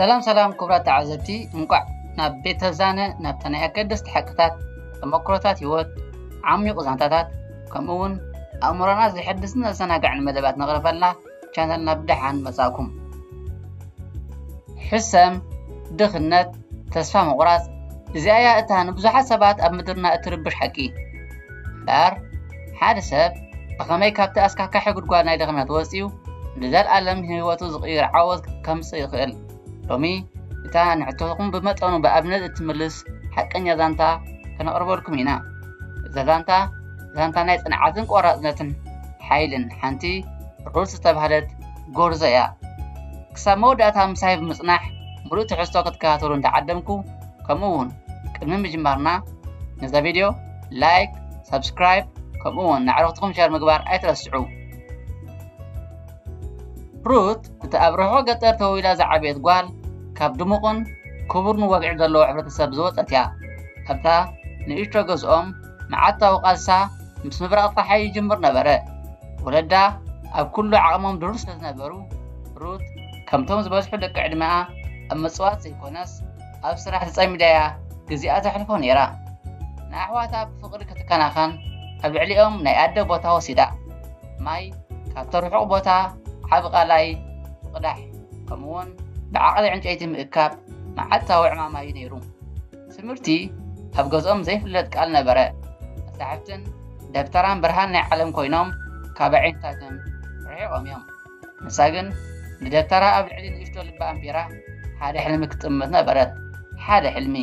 ሰላም ሰላም ክቡራት ተዓዘብቲ እንቋዕ ናብ ቤተ ዛነ ናብታ ናይ ኣገደስቲ ሓቅታት ተመክሮታት ህይወት ዓሚቑ ዛንታታት ከምኡ እውን ኣእምሮና ዘሐድስን ዘዘናግዕን መደባት ነቕርበልና ቻነልና ብደሓን መጻእኩም። ሕሰም፣ ድኽነት፣ ተስፋ ምቑራጽ፣ እዚኣ እያ እታ ንብዙሓት ሰባት ኣብ ምድርና እትርብሽ ሓቂ። እምበኣር ሓደ ሰብ ብኸመይ ካብቲ ኣስካካሒ ጉድጓድ ናይ ድኽነት ወፂኡ ንዘለኣለም ህይወቱ ዝቕይር ዓወት ከምፅእ ይኽእል? ሎሚ እታ ንሕቶኹም ብመጠኑ ብኣብነት እትምልስ ሓቀኛ ዛንታ ከነቕርበልኩም ኢና። እዛ ዛንታ ዛንታ ናይ ጽንዓትን ቆራጽነትን ሓይልን ሓንቲ ሩት ዝተባህለት ጎርዞ እያ። ክሳብ መወዳእታ ምሳይ ብምጽናሕ ምሉእ ትሕዝቶ ክትከታተሉ እንዳዓደምኩ ከምኡ ውን ቅድሚ ምጅማርና ነዛ ቪድዮ ላይክ ሳብስክራይብ ከምኡ ውን ንኣዕርኽትኹም ሸር ምግባር ኣይትረስዑ። ሩት እቲ ኣብ ርሑቕ ገጠር ተወሊዳ ዝዓበየት ጓል ካብ ድሙቕን ክቡርን ወግዒ ዘለዎ ሕብረተሰብ ዝወጸት እያ። ኣብታ ንእሽቶ ገዝኦም መዓልታዊ ቃልሳ ምስ ምብራቕ ጸሓይ ይጅምር ነበረ። ወለዳ ኣብ ኩሉ ዓቕሞም ድሩር ስለ ዝነበሩ፣ ሩት ከምቶም ዝበዝሑ ደቂ ዕድመኣ ኣብ ምጽዋት ዘይኮነስ ኣብ ስራሕ ተጸሚዳ'ያ ግዜኣ ተሕልፎ ነይራ። ንኣሕዋታ ብፍቕሪ ክትከናኸን ኣብ ልዕሊኦም ናይ ኣደ ቦታ ወሲዳ። ማይ ካብቲ ርሑቕ ቦታ ዓቢ ቐላይ ምቕዳሕ ከምኡ'ውን ብዓቕሊ ዕንጨይቲ ምእካብ መዓልታዊ ዕማማ'ዩ ነይሩ። ትምህርቲ ኣብ ገዝኦም ዘይፍለጥ ቃል ነበረ። መጻሕፍትን ደብተራን ብርሃን ናይ ዓለም ኮይኖም ካብ ኣዒንታቶም ርሒቖም እዮም። ንሳ ግን ንደብተራ ኣብ ልዕሊ ንእሽቶ ልባ ኣንቢራ ሓደ ሕልሚ ክትጥምት ነበረት። ሓደ ሕልሚ፣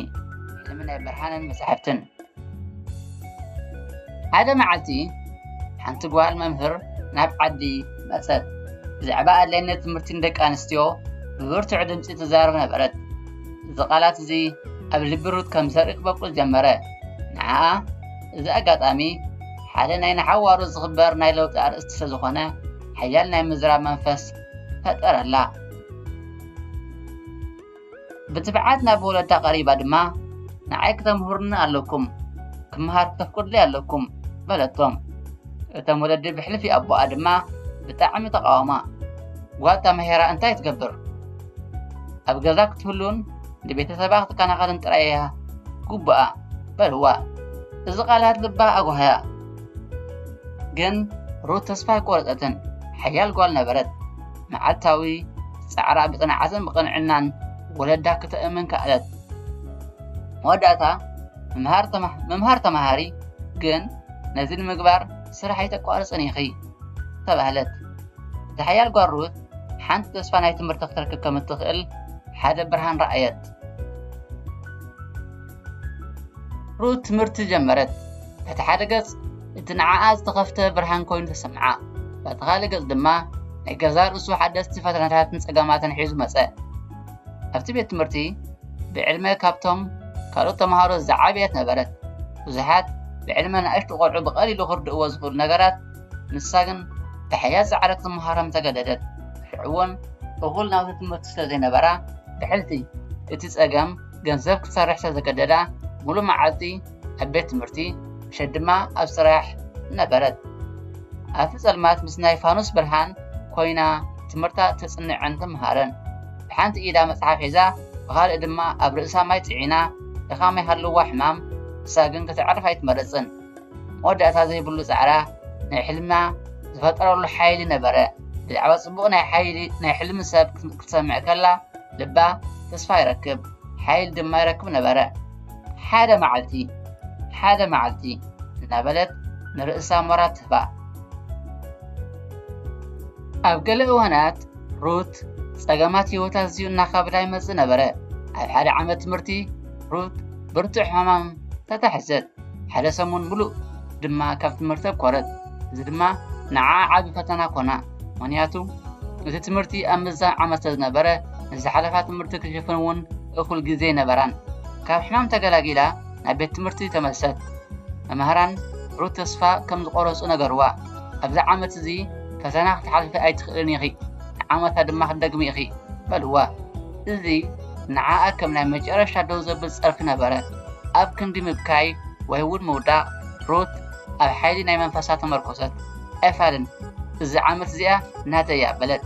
ሕልሚ ናይ ብርሃንን መጻሕፍትን። ሓደ መዓልቲ ሓንቲ ጓል መምህር ናብ ዓዲ መጸት። ብዛዕባ ኣድላይነት ትምህርቲ ንደቂ ኣንስትዮ ብብርቱዕ ድምፂ ትዛረብ ነበረት። እዚ ቃላት እዚ ኣብ ልቢ ሩት ከም ዘርኢ ክበቁል ጀመረ። ንዓኣ እዚ ኣጋጣሚ ሓደ ናይ ንሓዋሩ ዝኽበር ናይ ለውጢ ኣርእስቲ ስለ ዝኾነ ሓያል ናይ ምዝራብ መንፈስ ፈጠረላ። ብትብዓት ናብ ወለዳ ቀሪባ ድማ ንዓይ ክተምህሩኒ ኣለኩም ክምሃር ክተፍቅዱለይ ኣለኩም በለቶም። እቶም ወለዲ ብሕልፊ ኣቦኣ ድማ ብጣዕሚ ተቃወማ። ጓል ተማሂራ እንታይ ትገብር? ኣብ ገዛ ክትህሉን ንቤተሰባ ክትከናኸልን ጥራይ እያ ግቡኣ በልዋ። እዚ ቃላት ልባ ኣጓህያ። ግን ሩት ተስፋ ኣይቆረጸትን። ሓያል ጓል ነበረት። መዓልታዊ ጻዕራ ብጽንዓትን ብቕንዕናን ወለዳ ክተእምን ከኣለት። መወዳእታ ምምሃር ተምሃሪ ግን ነዚ ንምግባር ስራሕ ኣይተቋርጽን ኢኺ ተባህለት። እታ ሓያል ጓል ሩት ሓንቲ ተስፋ ናይ ትምህርቲ ክትረክብ ከም እትኽእል ሓደ ብርሃን ረኣየት። ሩት ትምህርቲ ጀመረት። በቲ ሓደ ገጽ እቲ ንዓኣ ዝተኸፍተ ብርሃን ኮይኑ ተሰምዓ፣ በቲ ካልእ ገጽ ድማ ናይ ገዛ ርእሱ ሓደስቲ ፈተናታትን ጸገማትን ሒዙ መጸ። ኣብቲ ቤት ትምህርቲ ብዕድመ ካብቶም ካልኦት ተምሃሮ ዝዓበየት ነበረት። ብዙሓት ብዕድመ ንኣሽቱ ቆልዑ ብቐሊሉ ክርድእዎ ዝኽእሉ ነገራት ንሳ ግን ብሕያት ዝዓረ ክትመሃሮም ተገደደት። ሽዑ'ውን እኹል ናውቲ ትምህርቲ ስለ ዘይነበራ ብሕልፊ እቲ ጸገም ገንዘብ ክትሰርሕ ስለ ዘገደዳ ምሉእ መዓልቲ ኣብ ቤት ትምህርቲ ምሸት ድማ ኣብ ስራሕ ነበረት። ኣብቲ ጸልማት ምስ ናይ ፋኑስ ብርሃን ኮይና ትምህርታ ተጽንዕን ትምሃርን። ብሓንቲ ኢዳ መጽሓፍ ሒዛ ብኻልእ ድማ ኣብ ርእሳ ማይ ጽዒና ድኻም ይሃልዋ ሕማም ንሳ ግን ከተዕርፍ ኣይትመርጽን። መወዳእታ ዘይብሉ ጻዕራ ናይ ሕልማ ዝፈጠረሉ ሓይሊ ነበረ ብዛዕባ ጽቡቕ ናይ ሓይሊ ናይ ሕልሚ ሰብ ክትሰምዕ ከላ ልባ ተስፋ ይረክብ ሓይሊ ድማ ይረክብ ነበረ ሓደ መዓልቲ ሓደ መዓልቲ እናበለት ንርእሳ ሞራ ትህባ ኣብ ገለ እዋናት ሩት ጸገማት ህይወት ኣዝዩ እናኸብዳ ይመጽእ ነበረ ኣብ ሓደ ዓመት ትምህርቲ ሩት ብርቱዕ ሕማም ተታሕዘት ሓደ ሰሙን ምሉእ ድማ ካብ ትምህርቲ ኣኮረት እዚ ድማ ንዓ ዓብ ፈተና ኮና ምክንያቱ እቲ ትምህርቲ ኣብ ምዛን ዓመት ስለዝነበረ ንዝሓለፋ ትምህርቲ ክሽፍን እውን እኹል ግዜ ነበራን ካብ ሕማም ተገላጊላ ናብ ቤት ትምህርቲ ተመልሰት መምህራን ሩት ተስፋ ከም ዝቆረፁ ነገርዋ ኣብዚ ዓመት እዚ ፈተና ክትሓልፊ ኣይትኽእልን ኢኺ ንዓመታ ድማ ክትደግሚ ኢኺ በልዋ እዚ ንዓኣ ከም ናይ መጨረሻ ደው ዘብል ጸርፊ ነበረ ኣብ ክንዲ ምብካይ ወይ እውን ምውዳቕ፣ ሩት ኣብ ሓይሊ ናይ መንፈሳ ተመርኰሰት። ኣይፋልን፣ እዛ ዓመት እዚኣ ናተይ እያ በለት።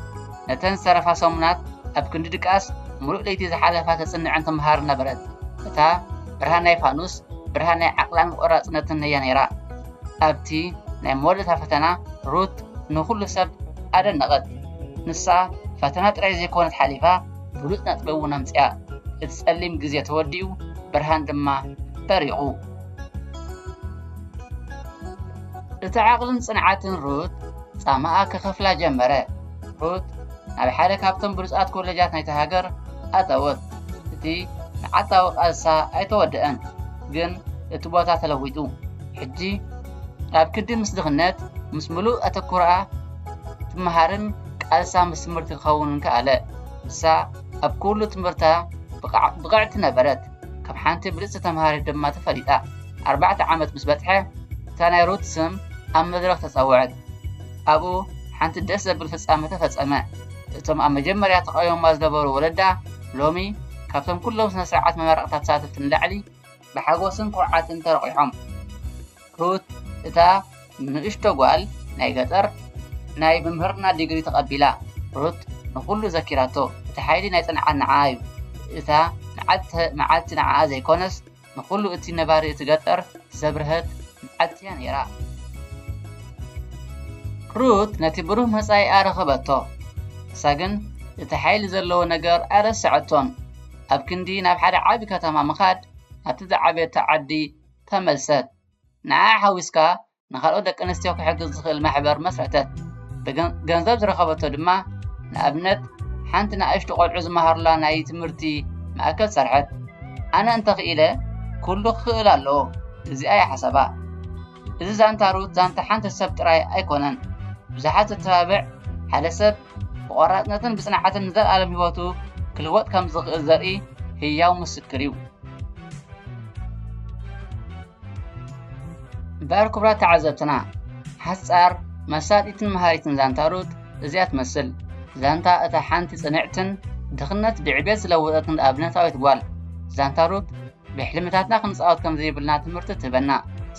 ነተን ዝተረፋ ሰሙናት ኣብ ክንዲ ድቃስ ምሉእ ለይቲ ዝሓለፋ ተጽንዕን ትመሃርን ነበረት። እታ ብርሃን ናይ ፋኑስ ብርሃን ናይ ዓቕላን ቆራጽነትን እያ ነይራ። ኣብቲ ናይ መወዳእታ ፈተና ሩት ንዅሉ ሰብ ኣደነቐት። ንሳ ፈተና ጥራይ ዘይኰነት ሓሊፋ፣ ብሉጽ ነጥቢ እውን ኣምጺኣ። እቲ ጸሊም ግዜ ተወዲኡ ብርሃን ድማ በሪቑ። እቲ ዓቕልን ጽንዓትን ሩት ጻማኣ ክኸፍላ ጀመረ። ሩት ናብ ሓደ ካብቶም ብሉጻት ኮለጃት ናይቲ ሃገር ኣተወት። እቲ መዓልታዊ ቃልሳ ኣይተወድኣን፣ ግን እቲ ቦታ ተለዊጡ። ሕጂ ናብ ክዲ ምስ ድኽነት ምስ ምሉእ ኣተኩሮኣ ትመሃርን ቃልሳ ምስ ትምህርቲ ክኸውንን ከኣለ። ንሳ ኣብ ኩሉ ትምህርታ ብቕዕቲ ነበረት፣ ከም ሓንቲ ብልጽቲ ተምሃሪት ድማ ተፈሊጣ። ኣርባዕተ ዓመት ምስ በጽሐ እታ ናይ ሩት ስም ኣብ መድረኽ ተጸውዐት። ኣብኡ ሓንቲ ደስ ዘብል ፍጻመ ተፈጸመ። እቶም ኣብ መጀመርያ ተቓዊሞማ ዝነበሩ ወለዳ ሎሚ ካብቶም ኩሎም ስነ ስርዓት መመረቕታ ተሳተፍቲ ንላዕሊ ብሓጎስን ኩርዓትን ተረቑሖም። ሩት እታ ንእሽቶ ጓል ናይ ገጠር ናይ ምምህርና ዲግሪ ተቐቢላ። ሩት ንኹሉ ዘኪራቶ፣ እቲ ሓይሊ ናይ ጽንዓት ንዓኣ እዩ። እታ መዓልቲ መዓልቲ ንዓኣ ዘይኮነስ ንኹሉ እቲ ነባሪ እቲ ገጠር ዘብርሀት መዓልቲ እያ ነይራ። ሩት ነቲ ብሩህ መጻኢኣ ረኸበቶ፣ ንሳ ግን እቲ ሓይሊ ዘለዎ ነገር ኣይረሰዐቶን። ኣብ ክንዲ ናብ ሓደ ዓቢ ከተማ ምኻድ ናብቲ ዝዓበየቶ ዓዲ ተመልሰት። ንዓኣ ሓዊስካ ንኻልኦት ደቂ ኣንስትዮ ክሕግዝ ዝኽእል ማሕበር መስረተት። ገንዘብ ዝረኸበቶ ድማ ንኣብነት ሓንቲ ንኣሽቱ ቆልዑ ዝመሃሩላ ናይ ትምህርቲ ማእከል ሰርሐት። ኣነ እንተኽኢለ ኩሉ ክኽእል ኣለዎ እዚኣ እያ ሓሳባ። እዚ ዛንታ ሩት ዛንታ ሓንቲ ሰብ ጥራይ ኣይኮነን። ብዙሓት ዘተባብዕ ሓደ ሰብ ብቆራፅነትን ብፅንዓትን ንዘለኣለም ህይወቱ ክልወጥ ከም ዝኽእል ዘርኢ ህያው ምስክር እዩ። እምበኣር ክቡራት ተዓዘብትና ሓፃር መሳጢትን መሃሪትን ዛንታ ሩት እዚኣ ትመስል። ዛንታ እታ ሓንቲ ፅንዕትን ድኽነት ብዕቤት ዝለወጠትን ኣብነታዊት ጓል ዛንታ ሩት ብሕልምታትና ክንጻወት ከም ዘይብልና ትምህርቲ ትህበና።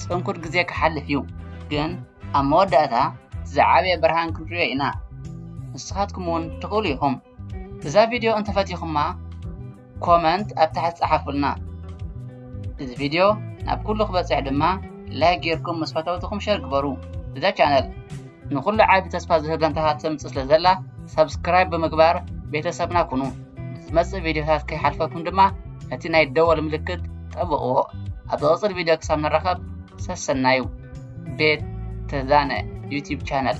ጽንኩር ግዜ ክሓልፍ እዩ፣ ግን ኣብ መወዳእታ እቲ ዝዓበየ ብርሃን ክንርእዮ ኢና። ንስኻትኩም እውን ትኽእሉ ኢኹም። እዛ ቪድዮ እንተፈቲኹማ ኮመንት ኣብ ታሕቲ ጸሓፉልና። እዚ ቪድዮ ናብ ኩሉ ክበጽሕ ድማ ላይክ ጌርኩም ምስ ፈተውትኹም ሸር ግበሩ እዛ ቻነል ንኹሉ ዓቢ ተስፋ ዝህብ ዛንታታት ተምጽእ ስለ ዘላ ሰብስክራይብ ብምግባር ቤተሰብና ኩኑ። ንዝመጽእ ቪድዮታት ከይሓልፈኩም ድማ ነቲ ናይ ደወል ምልክት ጠብቕዎ። ኣብ ዝቕጽል ቪድዮ ክሳብ ንራኸብ ሰሰናዩ። ቤት ተዛነ ዩቲብ ቻነል